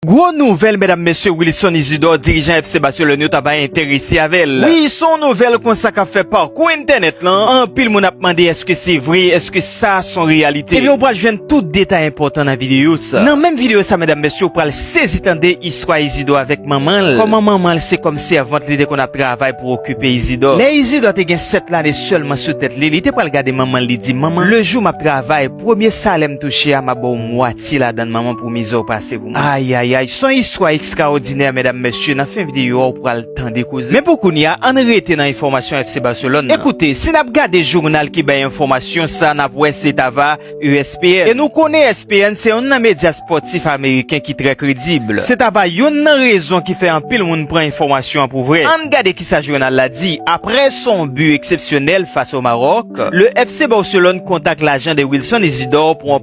Gwo nouvèl medam mesye Wilson Isidor dirijan FC Barcelone yo ta bay enterese avèl wi son nouvèl konsa kap fè parkou entènèt lan anpil moun ap mande eske se vre eske sa son reyalite ebyen ou pral jwenn tout detay enpòtan nan videyo sa nan menm videyo sa medam mesye ou pral sezi tande istwa Isidor avèk manmanl kòman manmanl se kòm sèvant li te konn ap travay pou okipe Isidor lè Isidor te gen 7 lane sèlman sou tèt li li te pral gade manmanl li di manman le jou map travay premye salèm touche a map baw mwatye ladann manman Pou mizè w pase pou mwen. Ayayay son istwa ekstraòdinè medam mesye nan fen videyo a ou pral tande koze men pou kounya ann rete nan enfòmasyon FC Barcelone nan. Ekoute si nap gade journal ki bay enfòmasyon sa nap wè se ta va ESPN e nou konnen ESPN se yonn nan medya spòtif ameriken ki trè kredib se ta va yonn nan rezon ki fè anpil moun pran enfòmasyon an pou vrè ann gade kisa journal la di aprè son but eksepsyonèl fas o Maroc le FC Barcelone kontak lajan de Wilson Isidor pou an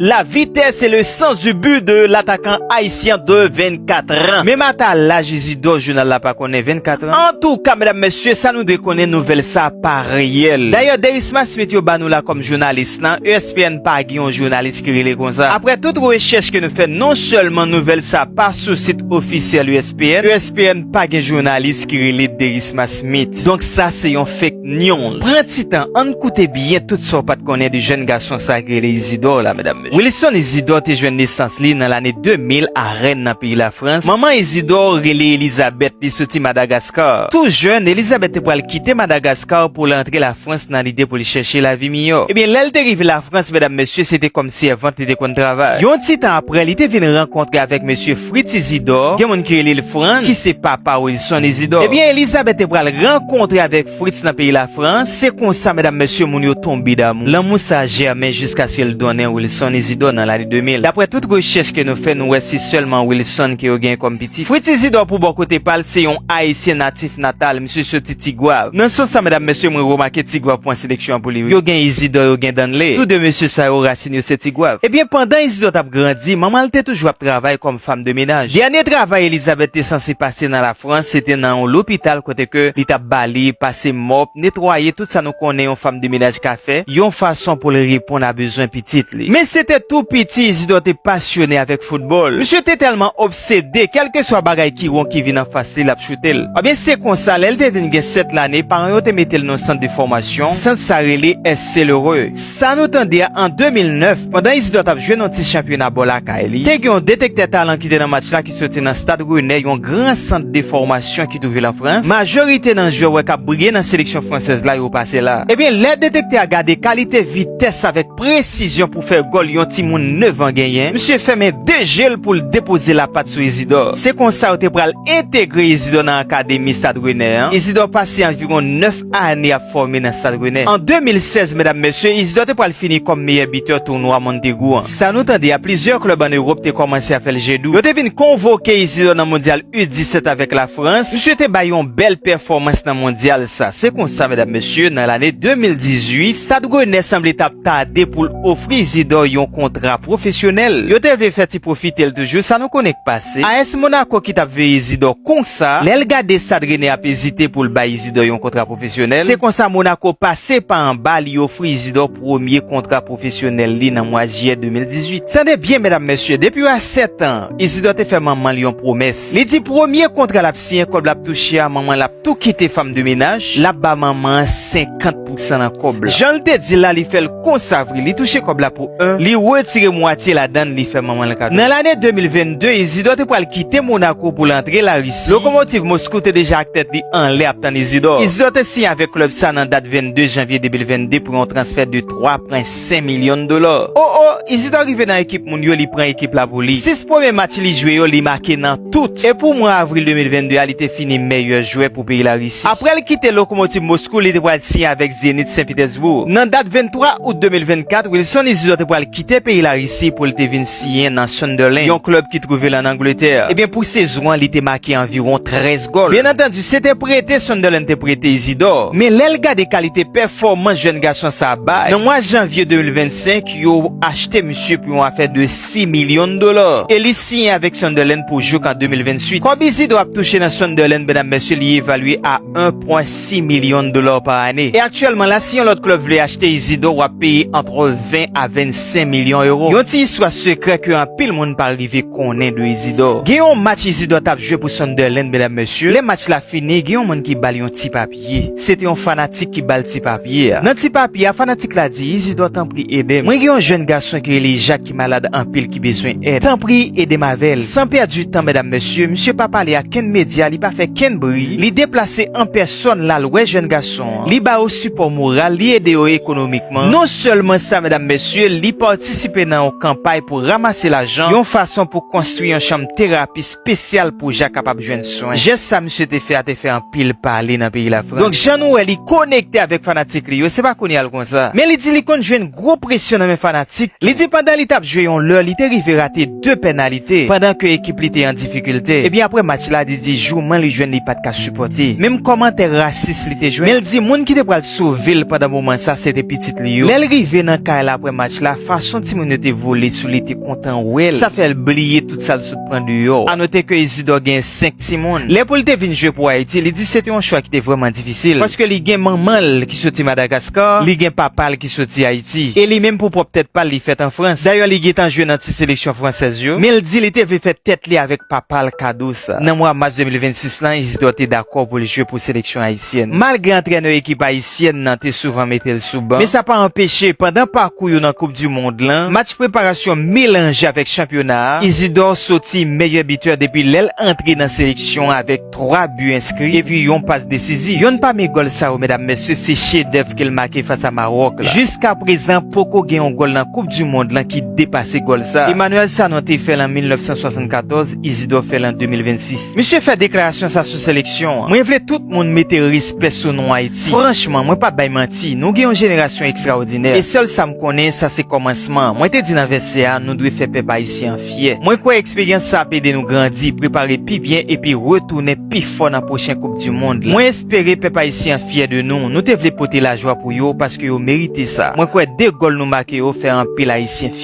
La vitesse c'est le sens du but de l'attaquant haïtien de 24 ans. Menm ata laj Izidò jounal la pa konnen 24 ans. Antouka medam mesye sa nou dwe konnen nouvèl sa pa reyèl. Dayè Derisma Smith yo ba nou la kòm jounalis lan, ESPN pa gen yon jounalis ki rele konsa. Aprè tout rechèch ke nou fè non sèlman nouvèl sa pa sou sit ofisyèl ESPN, ESPN pa gen jounalis ki rele Derisma Smith. Donk sa se yon fake. News. Pran ti tan ann koute byen tout sa w pat konnen de jèn gason sa ki rele Izidor la medam mesye. Wilson Izidor te jwenn nesans li nan lane 2000 a Rennes nan peyi Lafrans. Manman Izidor rele Elizabeth, li soti Madagaskar. Tou jèn, Elizabeth te pral kite Madagaskar pou l antre Lafrans nan lide pou l chèche lavi miyò. Ebyen lè l te rive Lafrans medam mesye se te kòm sèvant li te konn travay. Yon ti tan aprè li te vin rankontre avèk mesye. Fritz Isidor, gen moun ki rele l Frantz, ki se papa Wilson Isidor. Ebyen, Elizabeth te pral rankontre avèk Fritz nan peyi Lafrans, se konsa medam mesye moun yo tonbe damou. Lanmou sa a jèmen jiskaske l donnen Wilson Isidor nan lane 2000. Daprè tout rechèch ke nou fè, nou wè se sèlman Wilson ke yo genyen kòm pitit. Fritz Isidor pou bò kote pa l se yon Ayisyen natif natal, misye soti Tigwav. Nan sans sa medam mesye mwen remake Tigwav pran seleksyon an pou li wi. Yo gen Isidor, yo gen Danley. Tou 2 mesye sa yo rasin. Tin yo se Tigwav. Ebyen, pandan Izidò t ap grandi, manman l te toujou ap travay kòm fam de menaj. Dènye travay Elizabèt te sanse pase nan Lafrans se te nan yon lopital kote ke li t ap bale, pase mòp, netwaye, tout sa nou konnen yon fam de menaj ka fè, yon fason pou l reponn a bezwen pitit li. Men se te tou piti Izidò te pasyone avèk foutbòl. Msye te tèlman obsede, kèlkeswa bagay ki won ki vin anfas li, l ap choute l. Ebyen, se konsa, lè l te vin gen 7 lane, paran yo te mete l nan yon sant de fòmasyon, sant sa rele, S. Celereux. Sa nou tande a an 2009, pandan Isidor t ap jwe nan ti chanpyona bò lakay li, te gen yon detektè talan ki te nan match la ki soti nan Stade Rennais, yon gran sant de fòmasyon ki twouve l an Frans. Majorite nan jwè wè k ap briye nan seleksyon fransèz la yo pase la. Ebyen, lè detektè a gade kalite vitès avèk presizyon pou fè gòl yon timoun 9 an genyen, misye fèmen 2 je l pou l depoze lapat sou Isidor. Se konsa yo te pral entegre Isidor nan akademi Stade Rennais an. Isidor pase anviwon 9. a ane ap fòme nan Stad Renè. An 2016, medam mesye, Isidor te pral fini kòm meyè bitè tounwa Montaigu an. Sa nou tande a, plizyè klèb an Ewòp te kòmanse a fè l je dou. Yo te vin konvoke Isidor nan Mondyal U 17 avèk Lafrans. Misye te bay yon bèl pèfòmans nan Mondyal sa. Se konsa, medam mesye, nan lane 2018, Stad Renè sanble t ap tade pou l ofri Isidor yon kontra pwofesyonèl. Yo te vle fè ti pwofite l toujou, sa nou konnen k pa. Se AS Monaco ki tap veye Zidò konsa, lè l gade Sadrene ap ezite pou l bay Zidò yon kontra pwofesyonèl, se konsa Monaco pase pa anba li ofri Izidò premye kontra pwofesyonèl li nan mwa Jiyè 2018. Tande byen medam mesye, depi yo a 7 an, Izidò te fè manman l yon pwomès. Li di premye kontra l ap siyen kòb l ap touche a manman l ap tou kite fanm de menaj, l ap ba manman an 50. pou sa nan kob la. Janl te dil la li fèl konsa vre li touche kob la pou 1 li retire mwatye ladann li fè manmanl kado. Nan lane 2022 Izidor te pwal kite Monaco poul antre la Russie lokomotiv Moscou te deja ak tèt li anlè ap tann Izidor. Izidor te siyen avèk klub sa nan dat 22 janvye 2022 pou yon transfè de 3 pwen 5 milyon dolar. Oh oh Izidor rive nan ekip moun yo li pran ekip la pou li 6 premye match li jwe yo li make nan tout e pou mwa avril 2022 a li te fini mèyè jwè pou peyi la Russie. Apre l kite Lokomotiv Moskou, li te pral siyen avèk Zenit Sen Pitèsbour. Nan dat 23 out 2024, Wilson Izidor te pral kite peyi Larisi pou l te vin siyen nan Sunderland, yon klèb ki twouve l ann Angletè. Ebyen, pou sezon an, li te make anviwon 13 gòl. Byennantandi, se te prete Sunderland te prete Izidor. Men lè l gade kalite pèfòmans jèn gason sa a bay, nan mwa janvye 2025, Yo achte misye pou yon afè de 6 milyon dola e li siyen avèk Sunderland pou jouk an 2028. Kòb Isidro ap touche nan Sunderland medam mesye li evalye a 1.6 milyon dola pa ane e aktyèlman la si yon lòt klèb vle achte Isidro wap peye antre 20 a 25 milyon euro. Yon ti istwa sekrè ke anpil moun pa rive konnen de Isidro. Gen yon match Isidro tap jwe pou Sunderland medam mesye, lè match la fini gen yon moun ki bal yon ti papye. ye. Se te yon fanatik ki ba l ti papye a. Nan ti papye a, fanatik la di, Izidò, tanpri ede m. Mwen gen yon jèn gason ki rele Jak ki malad anpil ki bezwen èd. Tanpri ede m avè l. San pèdi tan, medam mesye, misye pa pale ak kenn medya, li pa fè kenn bri, li deplase an pèsòn l al wè jèn gason an, li ba yo sipò moral, li ede yo ekonomikman. Non sèlman sa, medam mesye, li patisipe nan yon kanpay pou ramase lajan yon fason pou konstwi yon chanm terapi spesyal pou Jak kapab jwenn swen. Jès sa. misye te fè a te fè anpil pale nan peyi Lafrans. Donk jan nou wè li konekte avèk fanatik li yo, se pa kounya l konsa. Men li di li konn jwenn gwo presyon nan men fanatik tou. Li di pandan li t ap jwe yon lè li te rive rate 2 pènalite pandan ke ekip li te an difikilte. Ebyen aprè match la li di jouman li jwenn li pat ka sipòte. Menm kòmantè rasis li te jwenn. Men l di moun ki te pral sove l pandan moman sa se te pitit li yo. Lè l rive nan kay la aprè match la, fason timoun yo te vole sou li te kontan wè l, sa fè l bliye tout sa l sot. pran deyò. A note ke Isidor genyen 5 timoun. Lè pou li te vin jwe pou Ayiti, li di se te yon chwa ki te vrèman difisil, paske li gen manman l ki soti Madagascar, li gen papa l ki soti Ayiti, e li menm pou pwòp tèt pa l li fèt an Frans. Dayè li gen tan jwe nan ti seleksyon fransèz yo, men l di li te vle fè tèt li avèk papa l kado sa. Nan mwa mas 2026 lan, Isidor te dakò pou l jwe pou seleksyon Ayisyen. ayisyèn. Malgre antrènè ekip ayisyèn nan te souvan mete l sou ban, men sa pa anpeche pandan pakou yo nan koup di mond lan, match preparasyon melanje avèk chanpyona a, Isidor soti meyè bitè depi lè l antre nan seleksyon an avèk 3 bi enskri epi yon pas desizif. Yonn pami gòl sa yo medam mesye se chedèv ke l make fas a Mawòk la. Jiska prezan poko gen yon gòl nan koup di mond lan ki depase gòl sa. Emmanuel Sanon te fè l an 1974, Isidor fè l an 2026. Misye fè deklarasyon sa sou seleksyon an. Mwen vle tout moun mete respè sou non Ayiti. Franchman, mwen pap bay manti, nou gen yon jenerasyon ekstraòdinè. E sèl sa m konnen, sa se kòmansman. Mwen te di nan vèsè a, nou dwe fè pèp ayisyen an fyè. Mwen kwè eksperyans sa ap ede nou grandi, prepare pi byen epi retounen pi fò nan pwochen koup di mond la. Mwen espere pèp ayisyen an fyè de nou. Nou te vle pote lajwa pou yo, paske yo merite sa. Mwen kwè 2 gòl nou make yo fè anpil ayisyen fyè.